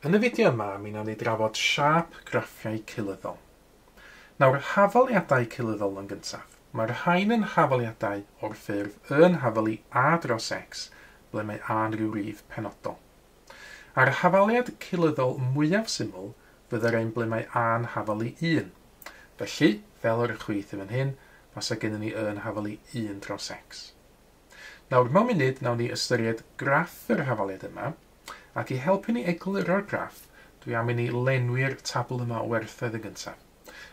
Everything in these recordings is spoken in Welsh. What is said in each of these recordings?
Yn y fideo yma, mi wnawn ni drafod siâp graffiau cynyddol. Nawr, hafaliadau cynyddol yn gyntaf. Mae'r rhain yn hafaliadau o'r ffurf y yn hafalu a dros x, ble mae a yn rhyw rif penodol. A'r hafaliad cynyddol mwyaf syml fydde'r un ble mae a yn hafalu 1. Felly, fel yr chwith yn fan hyn, fasa gennym ni y yn hafalu 1 dros x. Nawr, mewn munud, wnawn ni ystyried graff yr hafaliad yma, ac i helpu ni egluro'r graff, dwi am i ni lenwi'r tabl yma o werthoedd yn gyntaf.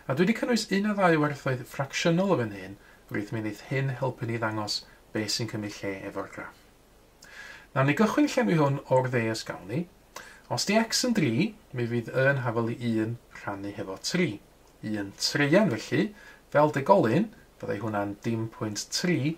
A dwi wedi cynnwys un a ddau werthoedd ffracsiynol o fy nhun, rwyt, mi wneith hyn helpu ni ddangos be sy'n cymryd lle efo'r graff. Wnawn ni gychwyn llenwi hwn o'r dde os gawn ni. Os di x yn dri, mi fydd y yn hafal i un rhannu hefo tri. Un treian felly, fel degolyn, fyddai hwnna'n dim pwynt tri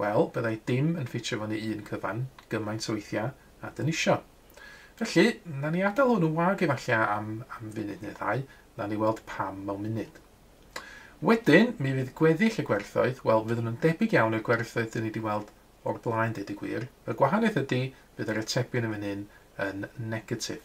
Wel, byddai dim yn ffitio fyny un cyfan gymaint o weithiau a dyn isio. Felly, na ni adael hwn yn wag efallai am, am funud neu ddau, na ni weld pam mewn munud. Wedyn, mi fydd gweddill y gwerthoedd, wel, fyddwn yn debyg iawn i'r gwerthoedd dyn ni wedi weld o'r blaen, deud y gwir. Y gwahaniaeth ydy, bydd yr atebion yn fan hyn yn negatif.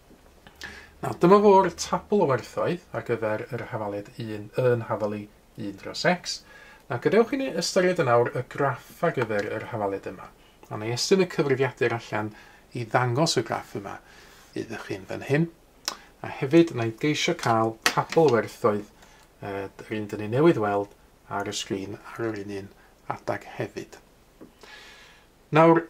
Nawr, dyma fo'r tabl o werthoedd ar gyfer yr hafaliad 1 yn hafalu 1 dros x. Nawr, gadewch i ni ystyried yn awr y graff ar gyfer yr hafaliad yma. A wna i estyn y cyfrifiadur allan i ddangos y graff yma iddo chi'n fan hyn. A hefyd, wna i geisio cael tabl o werthoedd yr un dyn ni newydd weld ar y sgrin ar yr un un adeg hefyd. Nawr,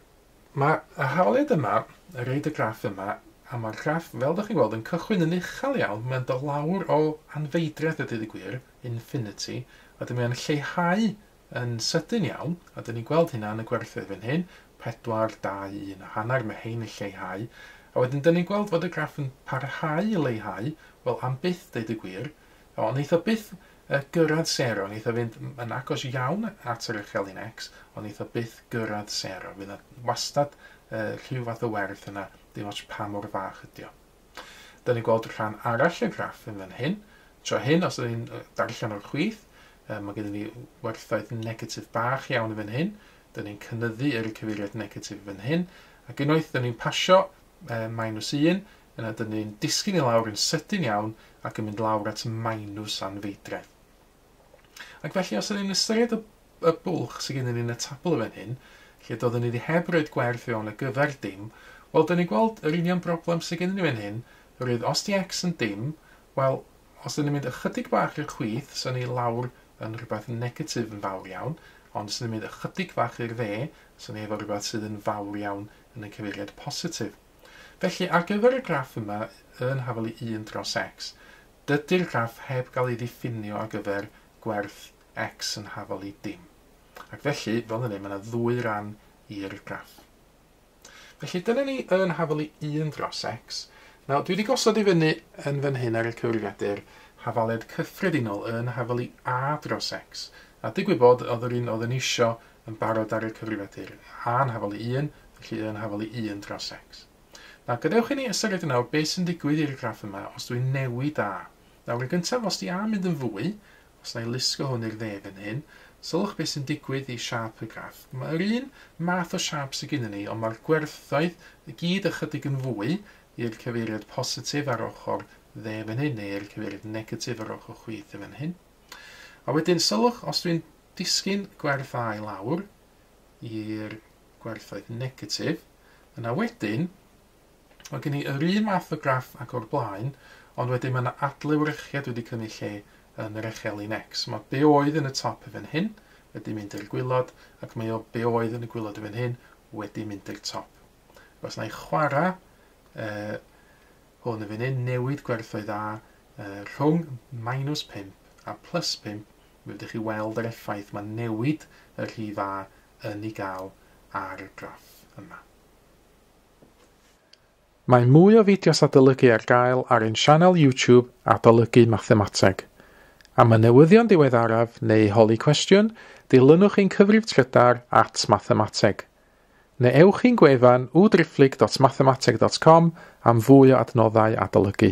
mae y hawliad yma, a roed y graff yma, a mae'r graff, fel dych chi'n weld, yn cychwyn yn uchel iawn, mae'n dod lawr o anfeidredd a dydd y gwir, infinity, a wedyn mae'n lleihau yn sydyn iawn, a dyn ni'n gweld hynna yn y gwerthoedd fan hyn, 4, 2, 1 a hanner, mae hein yn lleihau, a wedyn dyn ni'n gweld fod y graff yn parhau i leihau, wel am byth deud y gwir, O, wnaeth o byth yy gyrraedd sero, wnaeth o fynd yn agos iawn at yr uchelyn X, ond wnaeth o byth gyrraedd sero. Fydd yna wastad yy rhyw fath o werth yna, dim ots pa mor fach ydy o. Dyna ni'n gweld rhan arall y graff yn fan hyn. Tro hyn, os ydyn ni'n darllen o'r chwith, yy, mae gennym ni werthoedd negatif bach iawn yn fan hyn. Dyna ni'n cynyddu yr cyfeiriad negatif yn fan hyn. Ac unwaith dyna ni'n pasio yy minus 1, Yna dyn ni'n disgyn i lawr yn sydyn iawn ac yn mynd lawr at Maenws Anfeidredd. Ac felly os ydyn ni'n ystyried y, y bwlch sydd gennym ni yn y tabl yn fan hyn, lle doeddwn ni wedi heb roed gwerth fewn ar gyfer dim, wel dyn ni'n gweld yr union broblem sydd gennym ni fan hyn, roedd os di x yn dim, wel os dyn ni'n mynd ychydig bach i'r chwith, so ni lawr yn rhywbeth negatif yn fawr iawn, ond os dyn ni'n mynd ychydig fach i'r dde, so ni efo rhywbeth sydd yn fawr iawn yn y cyfeiriad positif. Felly, ar gyfer y graff yma yn hafelu un dros X, dydy'r graff heb gael ei ddiffinio ar gyfer gwerth X yn hafelu dim. Ac felly, fel hynny, mae yna ddwy ran i'r graff. Felly, dyna ni yn hafelu un dros X. Nawr, dwi wedi gosod i fyny yn fan hyn ar y cyfrifiadur hafaliad cyffredinol yn hafelu A dros X. A digwydd bod, oedd yr un oedd yn eisiau yn barod ar y cyfrifiadur, A yn hafal i un, felly Y yn hafal i un dros X. Nawr, gadewch i ni ystyried yn awr beth sy'n digwydd i'r graff yma os dwi'n newid A. Nawr, yn gyntaf, os di A'n mynd yn fwy, os na i lusgo hwn i'r dde fan hyn, sylwch beth sy'n digwydd i siâp y graff. Mae yr un math o siâp sydd gennyn ni, ond mae'r gwerthoedd i gyd ychydig yn fwy i'r cyfeiriad positif ar ochr dde fan hyn, neu i'r cyfeiriad negatif ar ochr chwith fan hyn. A wedyn, sylwch, os dwi'n Disgyn gwerthau lawr i'r gwerthoedd negatif. Yna wedyn, mae gen i yr un math o graff ag o'r blaen, ond wedyn mae yna adlewyrchiad wedi cymryd lle yn yr echelin X. Mae be oedd yn y top i fan hyn wedi mynd i'r gwylod, ac mae o be oedd yn y gwylod i fan hyn wedi mynd i'r top. Os na i chwarae uh, hwn yn fan hyn, newid gwerthoedd A uh, rhwng minus 5 a plus 5, Mi fedrwch chi weld yr effaith mae newid y rhi fa yn ei gael ar y graff yma. Mae mwy o fideos adolygu ar gael ar ein sianel YouTube Adolygu Mathemateg. Am y newyddion diweddaraf neu holi cwestiwn, dilynwch ein cyfrif trydar at Mathemateg. Neu ewch i'n gwefan www.driphlyg.mathemateg.com am fwy o adnoddau adolygu.